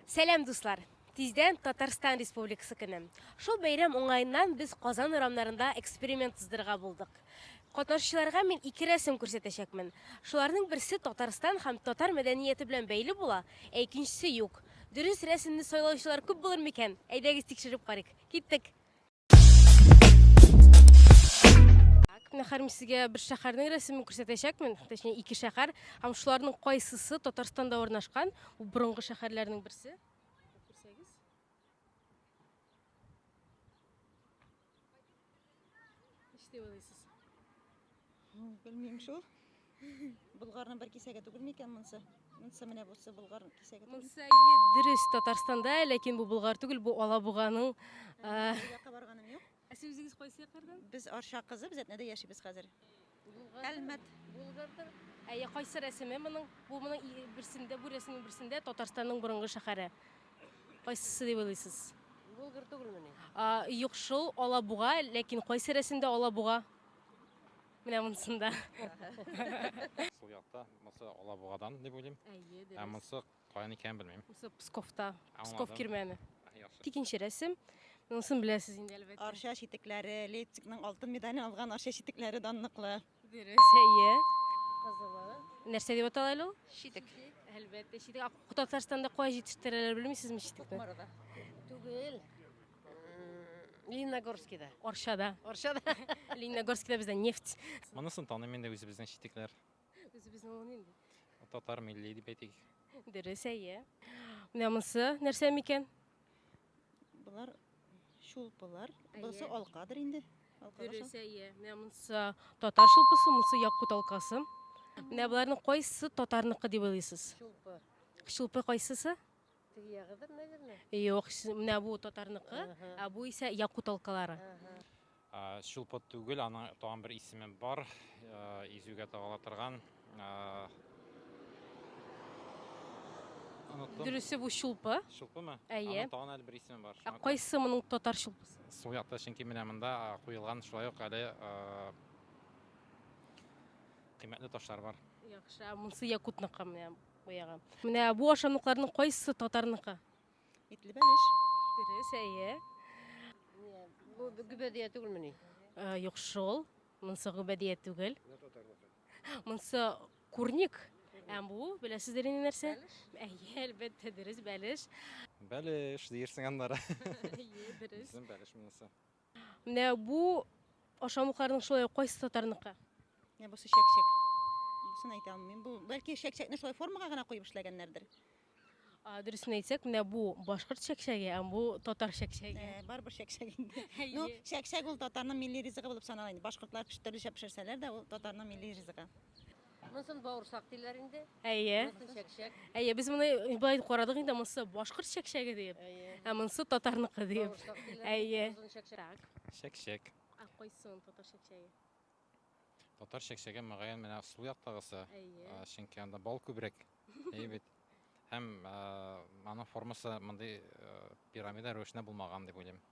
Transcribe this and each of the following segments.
Сәлам дуслар! Тиздән Татарстан Республикасы көне. Шул бәйрәм уңаеннан без Казан урамнарында эксперимент уздырырга булдык. Катнашучыларга мин ике рәсем күрсәтәчәкмен. Шуларның берсе Татарстан һәм татар мәдәнияте белән бәйле була, ә икенчесе юк. Дөрес рәсемне сайлаучылар күп булыр микән? Әйдәгез тикшереп карыйк. Киттек! Мәхәрим сезгә бер шәһәрнең рәсемен күрсәтәчәкмен, точнее ике шәһәр, һәм шуларның кайсысы Татарстанда урнашкан, бу борынгы шәһәрләрнең берсе. Күрсәгез. Ничек дип уйлыйсыз? Белмим шул. Булгарның бер кисәге түгел микән монсы? Монсы менә бусы булгар кисәге түгел. Монсы әйе дөрес Татарстанда, ләкин бу булгар түгел, бу Алабуганың. Якка барганым юк. Ә сез үзегез кайсы яклардан? Без Арча кызы, без Әтнәдә яшибез хәзер. Әлмәт. Булгардыр. Әйе, кайсы рәсеме моның? Бу моның берсендә, бу рәсемнең берсендә Татарстанның борынгы шәһәре. Кайсысы дип уйлыйсыз? Булгар түгелмени? Юк шул, Алабуга, ләкин кайсы рәсемдә Алабуга? Менә монсында. Сул якта, монсы Алабугадан дип уйлыйм. Әйе, дөрес. Ә монсы каян икәнен белмим. Монсы Псковта. Псков кирмәне. Икенче рәсем. Монысын беләсез инде әлбәттә. Арча читекләре, Лейпцигның алтын медален алган Арча читекләре данлыклы. Дөрес, әйе. Кызылы. Нәрсә дип атала әле ул? Читек. Әлбәттә, читек. Татарстанда кая җитештерәләр, белмисезме читекне? Кукмарада. Түгел. Лениногорскида. Арчада. Арчада. Лениногорскида бездә нефть. Монысын таныйм инде үзебезнең читекләр. Үзебезнең ул нинди? Татар милли дип әйтик. Дөрес, әйе. Менә монысы нәрсә микән? Болар шулпылар. Бусы алкадыр инде. Дөрес, әйе. Менә монысы татар шулпысы, монысы якут алкасы. Менә боларның кайсы татарныкы дип уйлыйсыз? Шулпы. Шулпы кайсысы? Теге ягыдыр, наверное. Юк, менә бу татарныкы, ә бу исә якут алкалары. Чулпы түгел, аның тагын бер исеме бар, изүгә тагыла торган. Дөресе бу чулпы. Чулпымы? Әйе. Аның тагын әле бер исеме бар. Ә кайсы моның татар чулпысы? Сул якта, чөнки менә монда куелган шулай ук әле кыйммәтле ташлар бар. Яхшы, ә монысы якутныкы менә. Куягы. Менә бу ашамлыкларның кайсы татарныкы? Итле бәлеш. Дөрес, әйе. Бу гөбәдия түгелмени? Э, юк шул. Монсы гөбәдия түгел. Монсы курник. Ә бу беләсездер инде нәрсә? Әйе, әлбәттә, дөрес бәлеш. Бәлеш диерсең аннары. Әйе, дөрес. Бәлеш монысы. Менә бу ашамлыкларның шулай кайсы татарныкы? Менә бусы чәкчәк. Бусын әйтә алмыйм. Бу бәлки чәкчәкне шулай формага гына куеп эшләгәннәрдер. Дөресен әйтсәк, менә бу башкорт чәкчәге, ә бу татар чәкчәге. Э, барыбер чәкчәк инде. Ну, чәкчәк ул татарның милли ризыгы булып санала инде. Башкортлар төрлечә пешерсәләр дә, ул татарның милли ризыгы. Монысын бауырсак диләр инде. Әйе. Монысын чәкчәк. Әйе, без моны былай карадык инде, монысы башкорт чәкчәге дип. Әйе. Ә монысы татарныкы дип. Бауырсак диләр. Әйе. Озын чәкчәк. Так. Чәкчәк. Ә кайсын татар чәкчәге? Татар чәкчәге мөгаен менә сул яктагысы. Әйе. А, Чөнки анда бал күбрәк. Әйе бит. Һәм а, аның формасы мондый а, пирамида рәвешенә булмаган дип уйлыйм.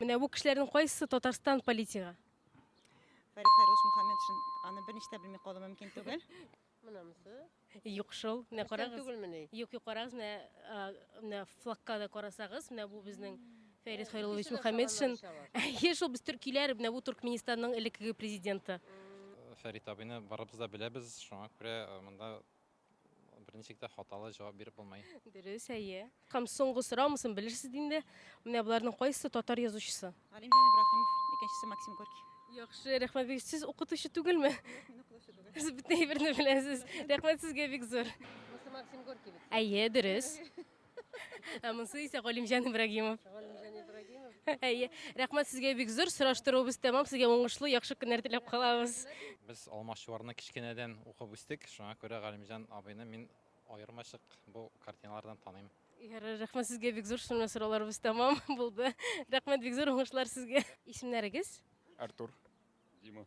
Менә бу кешеләрнең кайсысы Татарстан политигы? Фәрит Фәйрус Мухаммед шин аны берничә дә белми калу мөмкин түгел. Мынамсы? Юк шул. Менә карагыз. Түгелмени? Юк, юк карагыз, менә менә флагка да карасагыз, менә бу безнең Фәрит Хайруллович Мухаммед шин. Әйе, шул без төркиләр, менә бу Туркменистанның элеккеге президенты. Фәрит абыйны барыбыз да беләбез, шуңа күрә монда Берничектә хаталы җавап биреп булмый. Дөрес, әйе. Һәм соңгы сорау, монысын белерсез инде. Менә боларның кайсы татар язучысы? Галимҗан Ибраһимов, икенчесе Максим Горький. Яхшы, рәхмәт бик. Сез укытучы түгелме? Юк, мин укытучы түгел. Сез бөтен әйберне беләсез. Рәхмәт сезгә бик зур. Монысы Максим Горький бит. Әйе, дөрес. Ә монсы исә Галимҗан Ибрагимов. Галимҗан Ибрагимов. Әйе. Рәхмәт сезгә бик зур. Сораштыруыбыз тәмам. Сезгә уңышлы, яхшы көннәр теләп калабыз. Без алмашчыларны кечкенәдән укып үстек, шуңа күрә Галимҗан абыйны мин аермачык бу картиналардан таныйм. Ярар, рәхмәт сезгә бик зур. Шуңа сорауларыбыз тәмам булды. Рәхмәт бик зур, уңышлар сезгә. Исемнәрегез? Артур. Дима.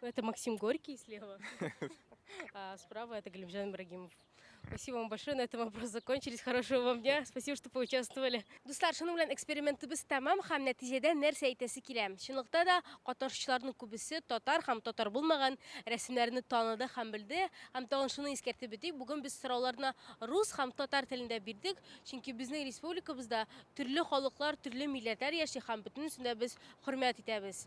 Это Максим Горький слева, а справа это Галимжан Ибрагимов. Спасибо вам большое, на этом вопросы закончились. Хорошего вам дня, спасибо, что поучаствовали. Дуслар, шуның белән экспериментыбыз тәмам һәм нәтиҗәдә нәрсә әйтәсе килә? Чынлыкта да катнашучыларның күбесе татар һәм татар булмаган рәсемнәрне таныды һәм белде. Һәм тагын шуны искәртеп үтик, бүген без сорауларны рус һәм татар телендә бирдек, чөнки безнең республикабызда төрле халыклар, төрле милләтләр яши һәм бөтенесен дә без хөрмәт итәбез.